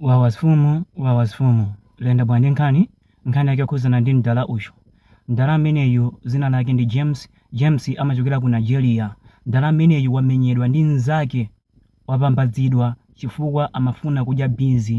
Wawa mfumu, wawa mfumu, Lendabwa ndi nkhani, nkhani yake yokhudzana ndi mdala uyu. Mdala ameneyu dzina lake ndi James, James amachokera ku Nigeria. Mdala ameneyu wamenyedwa ndi mnzake, wapambadzidwa chifukwa amafuna kudya beans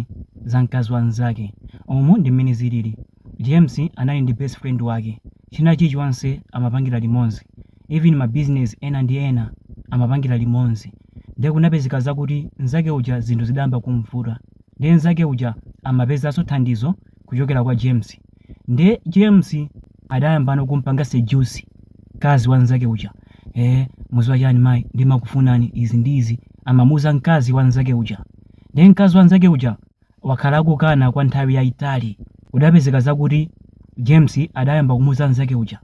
za mkazi wa mnzake. Umu ndi mmene zilili. James anali ndi best friend wake china chilichonse amapangira limodzi even ma business ena ndi ena amapangira limodzi nde kunapezeka zakuti nzake uja zinthu zidayamba kumvuta nde nzake uja amapezanso thandizo kuchokera kwa James nde James adayambano kumpanga seduce mkazi wa nzake uja ee mudziwa chani mai ndimakufunani izi ndi izi amamuuza nkazi wa nzake uja nde nkazi wa nzake uja wakhala akukana kwa nthawi yaitali. Kudapezeka zakuti James adayamba kumuuza mnzake uja,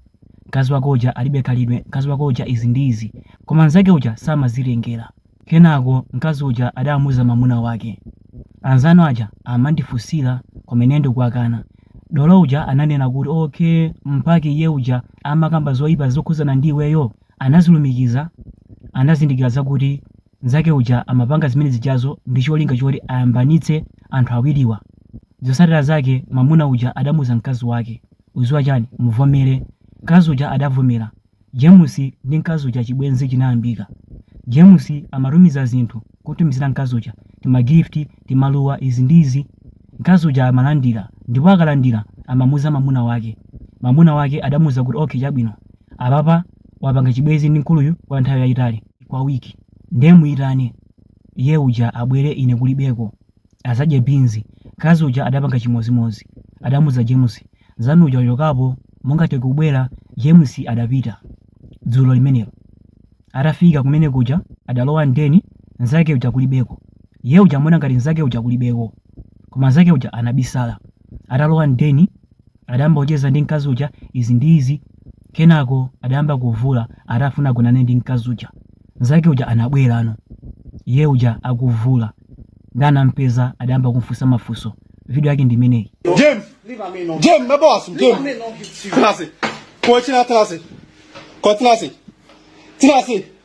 mkazi wako uja alibe khalidwe, mkazi wako uja izi ndi izi. Koma mnzake uja samazitengera. Kenako mkazi uja adamuuza mwamuna wake. Anzanu aja amandifunsira koma ine ndikuwakana. Dolo uja ananena kuti okay, mpake iye uja amakamba zoipa zokhudzana ndi iweyo? Anazilumikiza anazindikira zakuti Nzake uja amapanga zimene zijazo ndi cholinga choti ayambanitse anthu awiriwa. Zotsatira zake mamuna uja adamuuza mkazi wake, udziwa chani muvomere. Mkazi uja adavomera. James ndi mkazi uja chibwenzi chinayambika. James amatumiza zinthu kumtumizira mkazi uja tima gift, timaluwa izi ndi izi. Mkazi uja amalandira ndipo akalandira amamuuza mamuna wake. Mamuna wake adamuuza kuti okay chabwino apapa wapanga chibwenzi ndi mkuluyu kwa nthawi yayitali. kwa week ndiye muitane iye uja abwere ine kulibeko adzadye beans mkazi uja adapanga chimodzimodzi adamuuza james mnzanu uja achokapo mungathe kubwera james adapita dzulo limenelo atafika kumene kuja adalowa m'deni nzake uja kulibeko iye uja amaona ngati nzake uja kulibeko koma nzake uja anabisala atalowa m'deni Adayamba kucheza ndi mkazi uja izi ndi izi kenako adayamba kuvula atafuna agonane ndi mkazi uja. Nzake uja anabwerano iye uja akuvula nde anampeza adayamba kumfunsa mafunso. Video yake ndi imeneyi. James, James, my boss, James. Tinasi, kwa Tinasi, kwa Tinasi, Tinasi.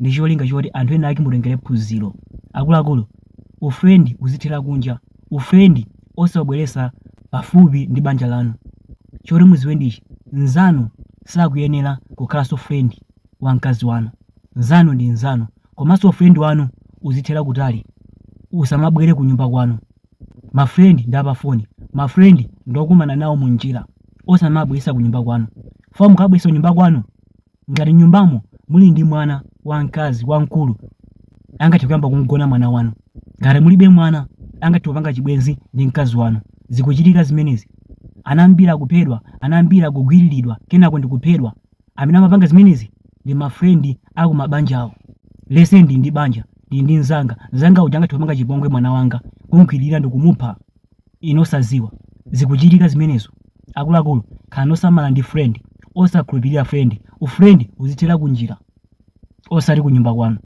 ndi cholinga choti anthu enaake mutengere phunziro. Akuluakulu, u friend uzithera kunja, u friend osaubweretsa pafupi ndi banja lanu. Choti mudziwe ndi ichi, mnzanu sakuyenera kukhalanso friend wa mkazi wanu. Mnzanu ndi mnzanu. Komanso u friend wanu uzithera kutali, usamabwere kunyumba kwanu. Ma friend ndi a pa foni, ma friend ndi okumana nawo munjira, osamawabweretsa kunyumba kwanu. Chifukwa mukawabweretsa kunyumba kwanu, Ngati mnyumbamo muli ndi mwana wamkazi wamkulu, angathe kuyamba kumgona mwana wanu. Ngati mulibe mwana, angathe kupanga chibwenzi ndi mkazi wanu. Zikuchitika zimenezi. Ana ambiri akuphedwa, ana ambiri akugwiriridwa kenako ndi kuphedwa. Amene amapanga zimenezi ndi ma friend a ku mabanja awo. Let's say ndili ndi banja, ndili ndi mnzanga, mnzanga uja angathe kupanga chipongwe mwana wanga, kumgwiririra ndi kumupha. inu osaziwa zikuchitika zimenezo akuluakulu khalani osamala ndi friend osakhulupirira friend u friend uzithera kunjira osati kunyumba kwanu.